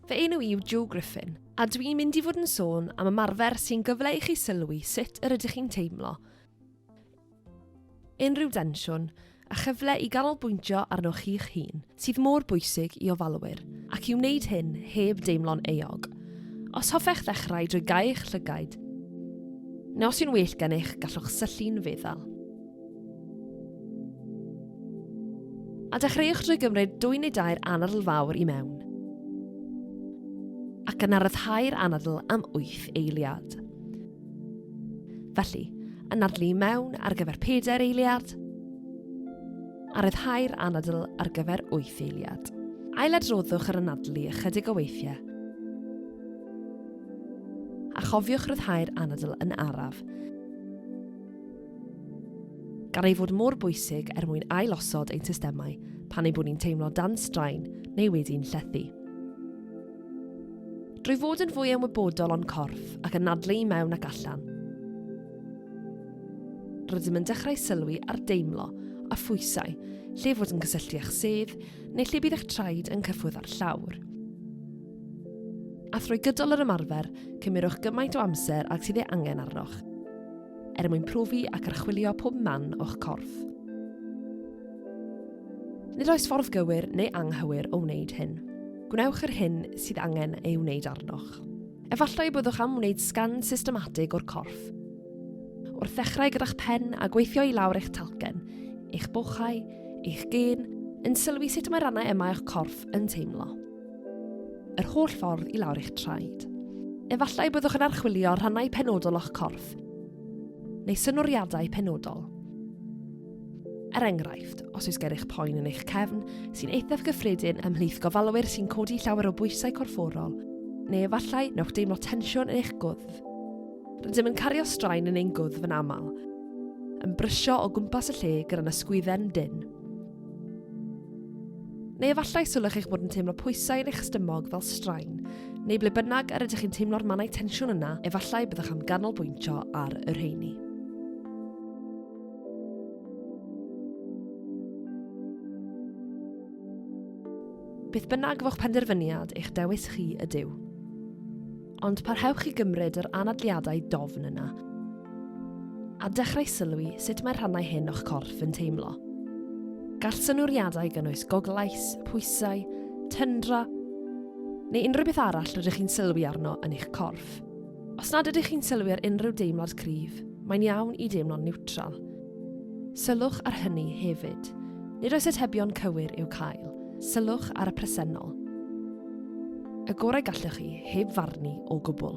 Fy enw i'w Joe Griffin, a dwi'n mynd i fod yn sôn am ymarfer sy'n gyfle i chi sylwi sut yr ydych chi'n teimlo. Unrhyw densiwn, a chyfle i ganolbwyntio arnoch chi'ch hun, sydd mor bwysig i ofalwyr, ac i wneud hyn heb deimlo'n euog. Os hoffech ddechrau drwy gau eich llygaid, neu os yw'n well gennych, gallwch syllu'n feddal. a dechreuwch drwy gymryd dwy neu dair anadl fawr i mewn ac yna ryddhau'r anadl am 8 eiliad. Felly, yn adlu i mewn ar gyfer pedair eiliad, a ryddhau'r anadl ar gyfer wyth eiliad. Ailadroddwch yr anadlu ychydig o weithiau, a chofiwch ryddhau'r anadl yn araf, gan ei fod mor bwysig er mwyn ailosod ein systemau pan ei bod ni'n teimlo dan straen neu wedi'n llethu. drwy fod yn fwy ymwybodol o'n corff ac yn nadlu i mewn ac allan. Rydym yn dechrau sylwi ar deimlo a phwysau, lle fod yn cysylltu â'ch sedd neu lle bydd eich traed yn cyffwrdd â'r llawr. A thrwy gydol yr ymarfer, cymerwch gymaint o amser ag sydd ei angen arnoch, er mwyn profi ac archwilio pob man o'ch corff. Nid oes ffordd gywir neu anghywir o wneud hyn. Gwnewch yr hyn sydd angen ei wneud arnoch. Efallai y byddwch am wneud sgan systematig o'r corff. Wrth ddechrau gyda'ch pen a gweithio i lawr eich talcen, eich bochau, eich gyn, yn sylwi sut mae rannau yma eich corff yn teimlo. Yr holl ffordd i lawr eich traed. Efallai byddwch yn archwilio rhannau penodol o'ch corff, neu synoriadau penodol. Er enghraifft, os oes gennych poen yn eich cefn, sy'n eithaf gyffredin ymhlith gofalwyr sy'n codi llawer o bwysau corfforol, neu efallai newch deimlo tensiwn yn eich gwddf. Rydym yn cario straen yn ein gwddf yn aml, yn brysio o gwmpas y lle gyda'n ysgwydden dyn. Neu efallai sylwch eich bod yn teimlo pwysau yn eich stymog fel straen, neu ble bynnag yr ydych chi'n teimlo'r mannau tensiwn yna, efallai byddwch am ganolbwyntio ar y rheini. Beth bynnag fo'ch penderfyniad, eich dewis chi ydyw. Ond parhewch i gymryd yr anadliadau dofn yna. A dechrau sylwi sut mae'r rhannau hyn o'ch corff yn teimlo. Gall synwriadau gynnwys goglais, pwysau, tyndra, neu unrhyw beth arall rydych chi'n sylwi arno yn eich corff. Os nad ydych chi'n sylwi ar unrhyw deimlad cryf, mae'n iawn i deimlo'n niwtral. Sylwch ar hynny hefyd. Nid oes atebion cywir i'w cael. Sylwch ar y presennol. Y gorau gallwch chi, heb farnu o gwbl.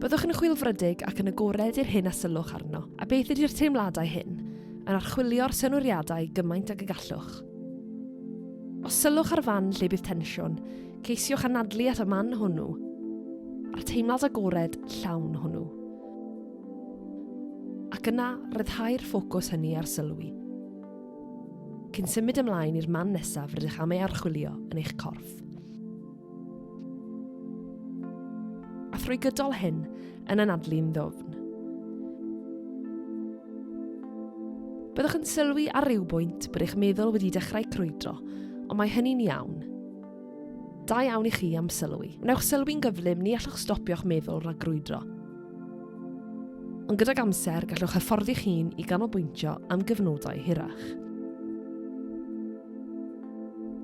Byddwch yn chwilfrydig ac yn agored i'r hyn a sylwch arno, a beth ydy'r teimladau hyn, yn archwilio'r synwriadau gymaint ag y gallwch. Os sylwch ar fan lle bydd tensiwn, Ceisiwch anadlu at y man hwnnw, a'r teimlad agored llawn hwnnw. Ac yna, rhyddhau'r ffocws hynny ar sylwi. Cyn symud ymlaen i'r man nesaf rydych am ei archwilio yn eich corff. A thrwy gydol hyn, yn anadlu'n ddofn. Byddwch yn sylwi ar ryw bwynt bod eich meddwl wedi dechrau crwydro, ond mae hynny'n iawn. Da iawn i chi am sylwi. Wnewch sylwi'n gyflym, ni allwch stopio'ch meddwl rhag grwydro. Ond gydag amser, gallwch hyfforddi'ch hun i ganolbwyntio am gyfnodau hirach.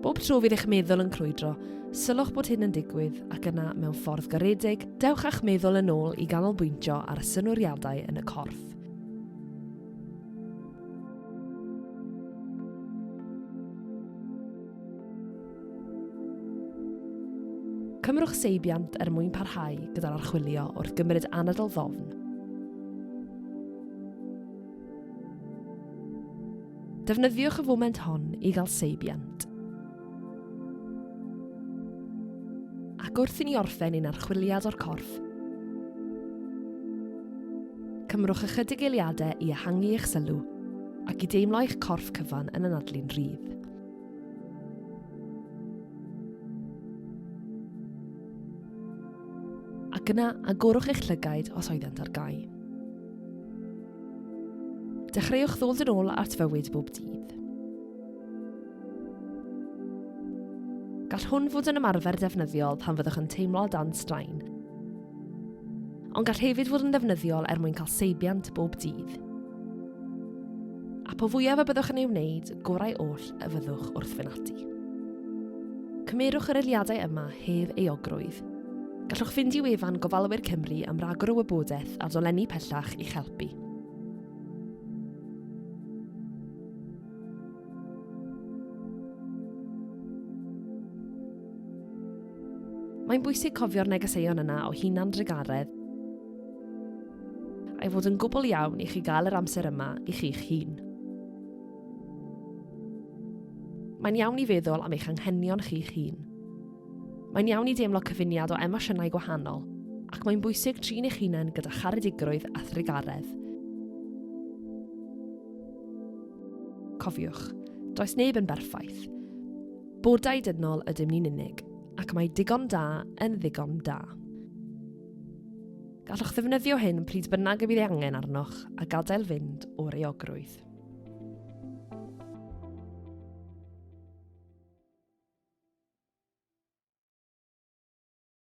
Bob tro fydd eich meddwl yn crwydro, sylwch bod hyn yn digwydd ac yna, mewn ffordd garedig, dewch â'ch meddwl yn ôl i ganolbwyntio ar y synwriadau yn y corff. Cymrwch seibiant er mwyn parhau gyda'r archwilio wrth gymryd anadl ddofn. Defnyddiwch y foment hon i gael seibiant. ac wrth i ni orffen ein archwiliad o'r corff, cymrwch ychydig eiliadau i ehangu eich sylw ac i deimlo eich corff cyfan yn anadlu'n rhydd. ac yna agorwch eich llygaid os oeddent ar gau. Dechreuwch ddod yn ôl at fywyd bob dydd. Gall hwn fod yn ymarfer defnyddiol pan fyddwch yn teimlo dan straen, Ond gall hefyd fod yn ddefnyddiol er mwyn cael seibiant bob dydd. A po fwyaf y byddwch yn ei wneud, gorau oll y fyddwch wrth fynd ati. Cymerwch yr eliadau yma hef eogrwydd. Gallwch fynd i wefan Gofalwyr Cymru am ragor o wybodaeth a dolenni pellach i'ch helpu. Mae'n bwysig cofio'r negeseuon yna o hunan drugaredd a'i fod yn gwbl iawn i chi gael yr amser yma i chi'ch hun. Mae'n iawn i feddwl am eich anghenion chi'ch hun. Mae'n iawn i deimlo cyfuniad o emosiynau gwahanol, ac mae'n bwysig trin eich hunain gyda charedigrwydd a thrugaredd. Cofiwch, does neb yn berffaith, Bodau dynol ydym ni'n unig, ac mae digon da yn ddigon da. Gallwch ddefnyddio hyn pryd bynnag y bydd ei angen arnoch a gadael fynd o'r eogrwydd.